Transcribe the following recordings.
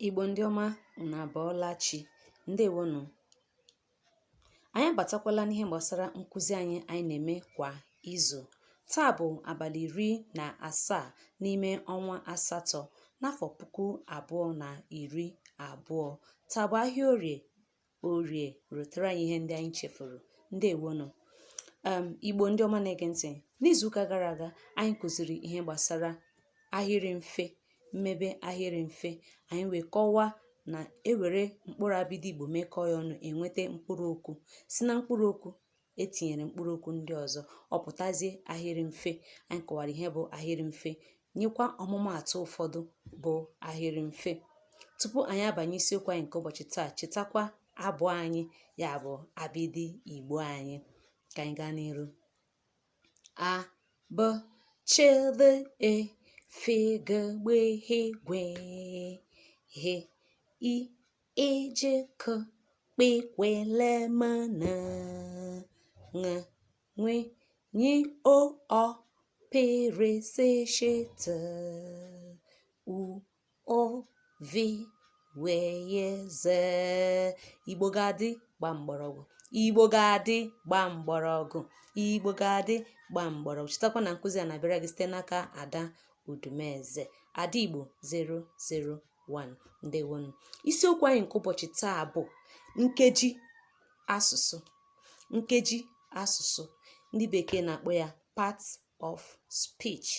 Igbo ndị ọma unu abọọla chi ndewonu anyị abatakwala n'ihe gbasara nkụzi anyị anyị na-eme kwa izu taa bụ abalị iri na asaa n'ime ọnwa asatọ n'afọ puku abụọ na iri abụọ taa bụ ahịa orie orie rutere anyị ihe ndị anyị chefuru ndewonu igbo ndị ọma na-ege ntị n'izuụka gara aga anyị kụziri ihe gbasara ahịrị mfe mmebe ahịrị mfe anyị wee kọwaa na ewere mkpụrụ abịdị igbo mekọọ ya ọnụ enweta mkpụrụ okwu si na mkpụrụ okwu etinyere mkpụrụ okwu ndị ọzọ ọ pụtazie ahịrị mfe anyị kọwara ihe bụ ahịrị mfe nyekwa ọmụmaatụ ụfọdụ bụ ahịrị mfe tupu anyị abanye isiokwu anyị nke ụbọchị taa chetakwa abụ anyị ya bụ abịdị igbo anyị ka anyị gaa n'iru a b ch d e f g gb gh gw h i ị j k kp kw l m n ṅ nw ny o ọ p r s sh t u ụ v w y z Igbo ga-adị gba mgbọrọgwụ Igbo ga-adị gba mgbọrọgwụ Igbo ga-adị gba mgbọrọgwụ chetakwa na nkụzi a na-abịara gị site n'aka Ada Udumeze Ada Igbo 00 1 ndewonu isiokwu anyị nke ụbọchị taa bụ nkeji asụsụ nkeji asụsụ ndị bekee na-akpọ ya part of speech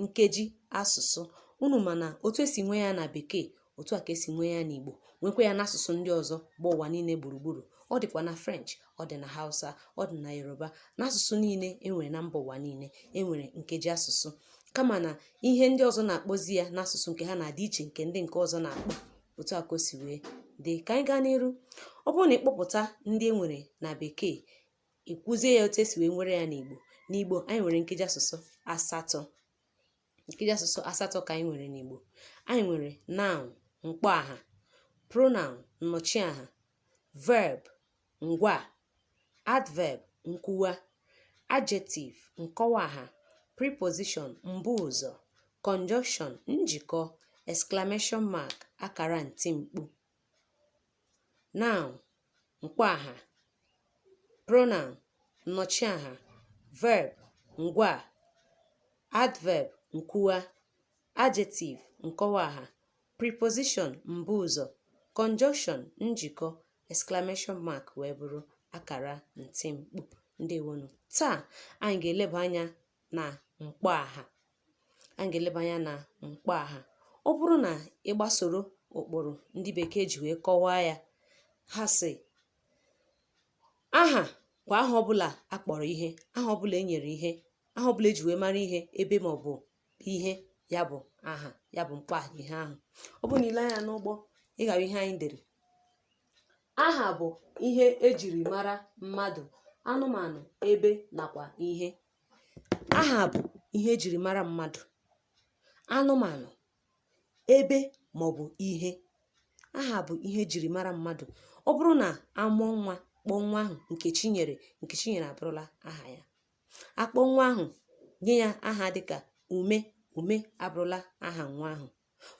nkeji asụsụ unu ma na otu esi nwee ya na bekee otu a ka esi nwee ya n'igbo nwekwa ya n'asụsụ ndị ọzọ gba ụwa niile gburugburu ọ dịkwa na french ọ dị na hausa ọ dị na yoruba n'asụsụ niile enwere na mba ụwa niile enwere nkeji asụsụ kama na ihe ndị ọzọ na-akpọzi ya n'asụsụ nke ha na-adị iche nke ndị nke ọzọ na-akpọ otu a ka o si wee dị ka anyị gaa n'iru ọ bụrụ na ị kpọpụta ndị e nwere na bekee i kwuzie ya otu esi wee nwere ya n'igbo n'igbo anyị nwere nkeji asụsụ asatọ nkeji asụsụ asatọ ka anyị nwere n'Igbo anyị nwere noun mkpọaha pronoun nnọchiaha verb ngwaa adverb nkwuwa adjective nkọwaaha preposition mbuụzọ conjunction njikọ exclamation mark akara ntimkpu noun mkpọaha pronoun nnọchiaha verb ngwaa adverb nkwuwa adjective nkọwaaha preposition mbuụzọ conjunction njikọ exclamation mark wee bụrụ akara ntimkpu ndewonu taa anyị ga-eleba anya na mkpọaha anyị ga-eleba anya na mkpọaha ọ bụrụ na ị gbasoro ụkpụrụ ndị bekee ji wee kọwaa ya ha sị aha kwa aha ọbụla a kpọrọ ihe aha ọbụla e nyere ihe aha ọbụla e ji wee mara ihe ebe ma ọ bụ ihe ya bụ aha ya bụ mkpọaha ihe ahụ ọ bụrụ na ile anya n'ụgbọ ị ga-ahụ ihe anyị dere Aha bụ ihe e jiri mara mmadụ, anụmanụ, ebe nakwa ihe. Aha bụ ihe e jiri mara mmadụ, anụmanụ, ebe maọbụ ihe. Aha bụ ihe e jiri mara mmadụ. Ọ bụrụ na a mụọ nwa, kpọọ nwa ahụ Nkechinyere, Nkechinyere abụrụla aha ya. A kpọọ nwa ahụ, nye ya aha dịka Ume, Ume abụrụla aha nwa ahụ.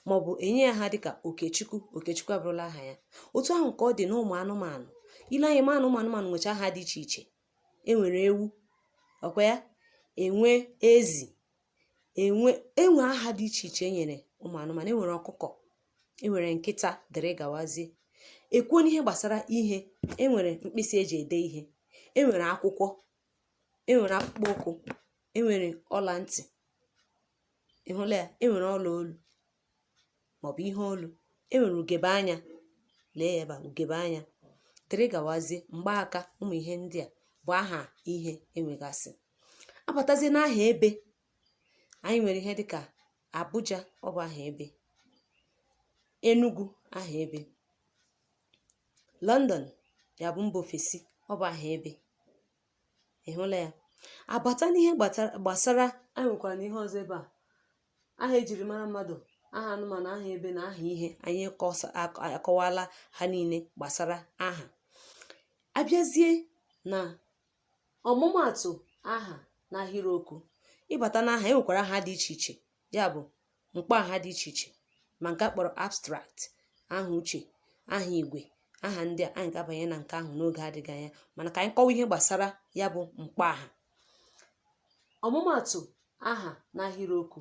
maọbụ enye ya aha dịka okechukwu okechukwu abụrụla aha ya otu ahụ ka ọ dị n'ụmụ anụmanụ ile anya ma na ụmụ anụmanụ nwecha aha dị iche iche enwere ewu ọkwa ya enwe ezi enwe enwe aha dị iche iche enyere ụmụ anụmanụ enwere ọkụkọ enwere nkịta dịrị gawazie ekwuo n'ihe gbasara ihe enwere mkpịsị eji ede ihe enwere akwụkwọ enwere akpụkpọ ụkwụ enwere ọla ntị ị hụla ya e nwere ọla olu maọbụ ihe olu e nwere ugebe anya lee ya ebe a ugebe anya dịrị gawazie mgbaaka ụmụ ihe ndị a bụ aha ihe enwegasị abatazie n'aha ebe anyị nwere ihe dịka Abuja ọ bụ aha ebe Enugu aha ebe London ya bụ mba ofesi ọ bụ aha ebe ị hụla ya abata n'ihe gbata- gbasara anyị nwekwara na ihe ọzọ ebe a aha ejiri mara mmadụ aha anụmanụ aha ebe na aha ihe anyị kọsa ak- akọwala ha niile gbasara aha abịazie na ọmụmaatụ aha n'ahịrịokwu ịbata n'aha e nwekwara aha dị iche iche ya bụ mkpọaha dị iche iche ma nke a kpọrọ abstract aha uche aha igwe aha ndị a anyị ga-abanye na nke ahụ n'oge adịghị anya mana ka anyị kọwa ihe gbasara ya bụ mkpọaha ọmụmaatụ aha n'ahịrịokwu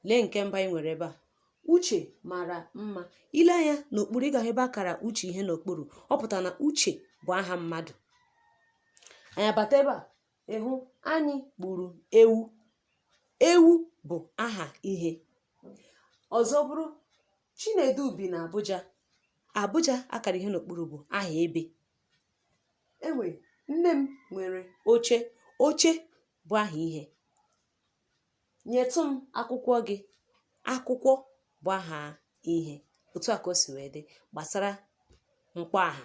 lee nke mbụ anyị nwere ebe a uche mara mma ile anya n'okpuru ị ga-ahụ ebe a kara uche ihe n'okpuru ọ pụtara na uche bụ aha mmadụ anyị abata ebe a ịhụ anyị gburu ewu ewu bụ aha ihe ọzọ bụrụ Chinedu bi na Abuja Abuja akara ihe n'okpuru bụ aha ebe enwe nne m nwere oche oche bụ aha ihe nyetụ m akwụkwọ gị akwụkwọ bụ aha ihe otu a ka o si wee dị gbasara mkpọaha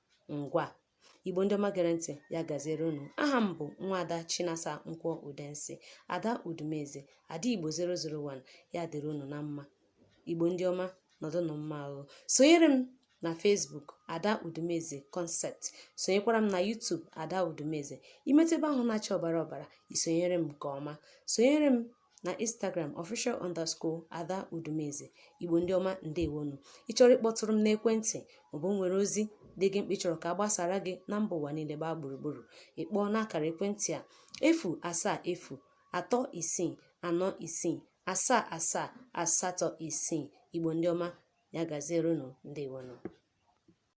ngwa igbo ndị ọma gere ntị ya gaziere unu aha m bụ nwaada chinasa nkwọ udensi ada udumeze ada igbo 001 ya dịrị unu na mma igbo ndị ọma nọdụnụ mma ahụ sonyere m na Facebook Ada Udumeze Concept sonyekwara m na YouTube Ada Udumeze ị metụ ebe ahụ na-acha ọbara ọbara i sonyere m nke ọma sonyere m na instagram official underscore ada udumeze igbo ndị ọma ndewonu ị chọrọ ịkpọtụrụ m n'ekwentị maọbụ nwere ozi dị gị mkpa ị chọrọ ka a gbasara gị na mba ụwa niile gbaa gburugburu ị kpọọ n'akara ekwentị a efu asaa efu atọ isii anọ isii asaa asaa asatọ isii igbo ndị ọma ya gaziere unu ndewonu